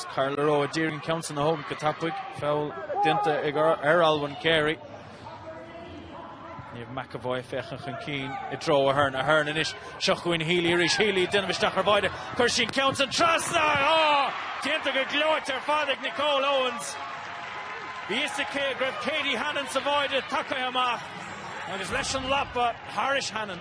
Carla Rowe a d'iarraidh an ceann san a thógaint go tapaidh. Feall déanta ag ar Olwen Carey. Niamh McEvoy ag féachaint chun cinn i dtreo Aherne. Aherne anois. Seo chugainn Healy arís. Healy ag déanamh isteach ar báide. Chuir sí an ceann san trasna. Á! Déanta go gleoite ar fad ag Nicole Owens. Bhí fhios aici go raibh Katie Hannon sa bháide tagaithe amach agus leis an lapa thairis Hannon.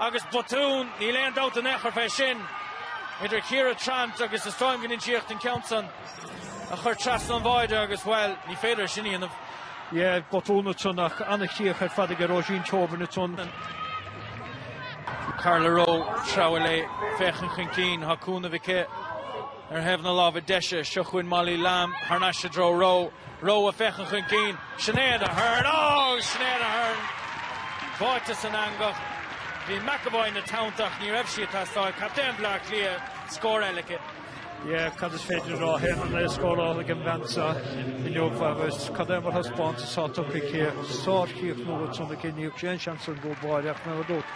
Agus botún, níl aon dabht in aon chor fé sin, idir Chiara Trant agus is dóigh liom go n-insíodh an ceann san a chur trasna an bháide agus, bhuel, ní féidir é sin a dhéanamh. Yeah, botún atá ann ach an-chríoch ar fad aige Róisín Tobin atá ann. Carla Rowe, treabhadh léi, féachaint chun cinn, tá cúnamh aici. Ar thaobh na láimhe deise, seo chugainn Molly Lamb, thar n-ais i dtreo Rowe. Rowe ag féachaint chun cinn, Sinéad Aherne, oh! Sinéad Aherne báite san eangach. Bhí McEvoy ina teannta ach ní raibh sí ag teastáil. Captaen Bhleá Cliath, scór eile aici. Yeah, cad is féidir a rá, a haon a naoi scóráilte ag an bhean seo inniu agus cad é mar thaispeántas atá tugtha aici? Sár-chríochnú ansan aici, ní raibh aon seans ag an gcúl báire ach mé ag rá duit,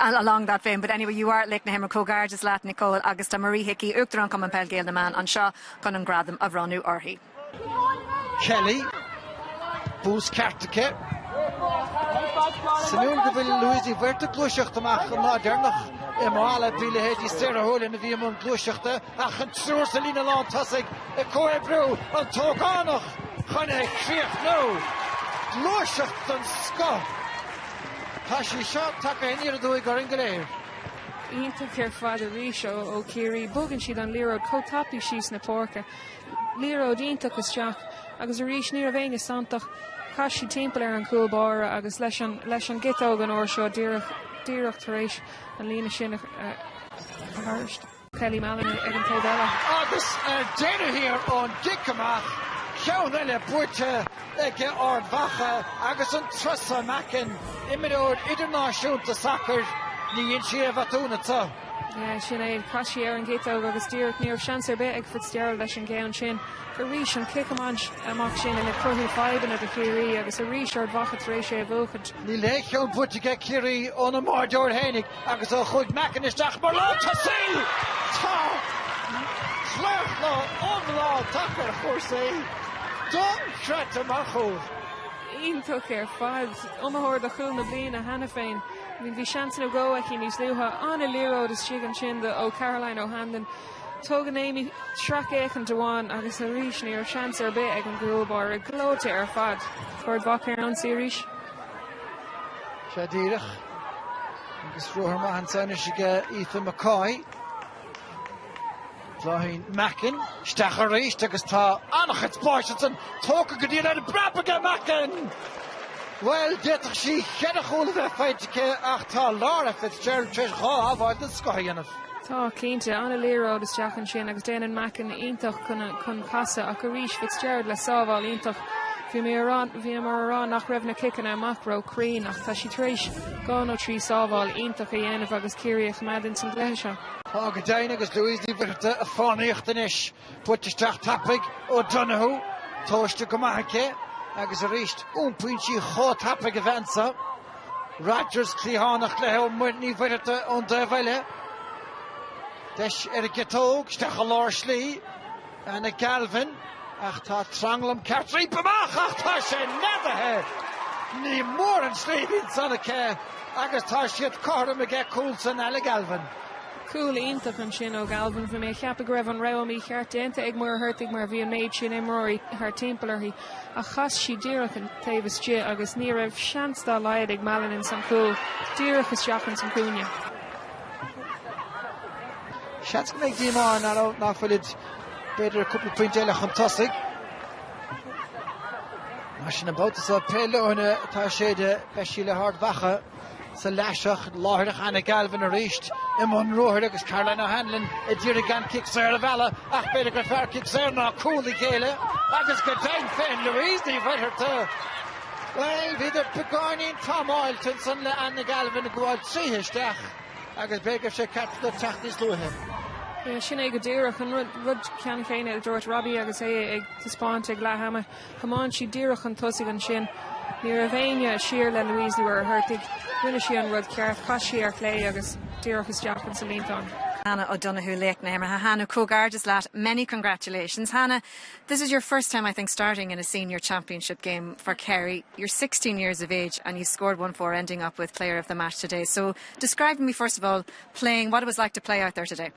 along that vein but anyway you are Laoch na hImeartha comhghairdeas leat Nicole agus tá Marie Hickey, Uachtarán Cumann Peil Gael na mBan anseo chun an gradam a bhronnadh uirthi. Kelly, bús ceart aici. Suimiúil go bhfuil Louise Ní Mhuircheartaigh ag gluaiseacht amach an lá deireanach i Mala bhí leithéidí Sarah Houlihan a bhí i mbun gluaiseachta ach an triúr sa líne lán tosaigh ag comhoibriú, an t-ógánach chun é a chríochnú. Gluaiseacht den scoth. Tá sí seo tagtha aniar aduaidh orainn go léir. Iontach ar fad arís ó Ciarraí, bogann siad an liathróid chomh tapaidh síos na páirce. Liathróid iontach isteach agus arís ní raibh éinne santach, chas sí timpeall ar an gcúl báire agus leis an gciotóg an uair seo díreach tar éis an líne sin a tharraingt. Kelly Mallon ag an taobh eile. Agus ar deireadh thiar ón gcic amach, ceann eile buaite ag Ard Mhacha agus an turas seo Mackin, imreoir idirnáisiúnta sacair, ní dhéanann sí aon bhotún ansan. Sin é chas sí ar an gciotóg agus díreach ní raibh seans ar bith ag Fitzgerald leis an gceann sin. Arís an cic amach sin ag cruthú fadhbanna do Chiarraí agus arís Ard Mhacha tar éis é a bhuachaint. Níl aon cheann buaite ag Ciarraí óna mbáireoir fhéinig. Agus ó chuaigh Mackin isteach mar lántosaí, tá claochlú iomlán tagtha ar chúrsaí don Chreat amach. Cúl iontach ar fad. Iomaitheoir do Chúl na Bliana cheana féin. I mean, bhí seans nó dhó aici níos luaithe. An-liathróid istigh ansin di ó Caroline O'Hanlon. Tugann Aimee sracfhéachaint amháin agus arís ní raibh seans ar bith ag an gcúl báire. Gleoite ar fad. Ard Mhacha ar an ionsaí arís. Sé díreach agus ruathar maith ansan anois aige Aoife McCoy. Bláithín Mackin isteach arís agus tá an-chuid spáis ansan tógtha go diail ar an bpreab ag Mackin! Bhuel, d'fhéadfadh sí cheithre chúl a bheith faighte aici ach tá Laura Fitzgerald tar éis dhá shábháil den scoth a dhéanamh. Tá, cinnte. An-liathróid isteach ansin agus déanann Mackin iontach chun casadh ach arís Fitzgerald le sábháil iontach. Bhíomar ag rá nach raibh na ciceanna amach róchruinn ach tá sí tar éis dhá nó trí sábháil iontach a dhéanamh agus Ciarraí a choimeád ins an gcluiche seo. Tá go deimhin agus Louise Ní Mhuircheartaigh ag fánaíocht anois. Buailte isteach tapaidh ó Donoghue, tomhaiste go maith aici agus arís iompaíonn sí chomh tapaidh a bheith anseo. Rodgers cliathánach léithe ó Ní Mhuircheartaigh ón dtaobh eile. Deis ar an gciotóg, isteach i lár slí, Anna Galvin, ach tá tranglam ceart roimpi amach ach tá sé neadaithe! Ní mór an slí a bhí ansan aici agus tá siad cothrom aige cúl san Anna Galvin. Cúl iontach ansin ó Galvin bhí mé ag ceapadh go raibh an rogha mícheart déanta ag Muircheartaigh mar bhí an méid sin imreoirí thart timpeall uirthi ach chas sí díreach an taobh istigh agus ní raibh seans dá laghad ag Mallon ins an chúl díreach isteach ins an chúinne. Seans go mbeidh díomá ann acu nach bhfuilid b'fhéidir cúpla pointe eile chun tosaigh. Mar sin an babhta seo pé leoithne atá ag séideadh, beidh sí le hArd Mhacha. Sa leath seo. Ach láithreach Anna Galvin arís i mbun ruathair agus Caroline O'Hanlon a d'iarraidh gan cic saor a mhealladh ach b'fhéidir gur fearr cic saor ná cúl a ghéilleadh agus go deimhin féin Louise Ní Mhuircheartaigh. Bhuel, bhíodar beagáinín támáilte ansan le Anna Galvin ag gabháil tríothu isteach agus b'fhéidir go raibh sé ceart dó teacht níos luaithe. Sin é go díreach an rud ceann chéanna a dúirt Robbie agus é ag taispeáint ag leath ama. Thiomáin sí díreach chun tosaigh ansin. Ní raibh éinne siar le Louise nuair a ghortaigh. Rinne sí an rud ceart, chas sí ar chlé agus díreach isteach in sa líontán. Hannah O'Donoghue, Laoch na hImeartha. Hannah, comhghairdeas leat, many congratulations. Hannah, this is your first time, I think, starting in a senior championship game for Kerry. You're 16 years of age and you scored 1-4, ending up with player of the match today. So describe me, first of all, playing, what it was like to play out there today.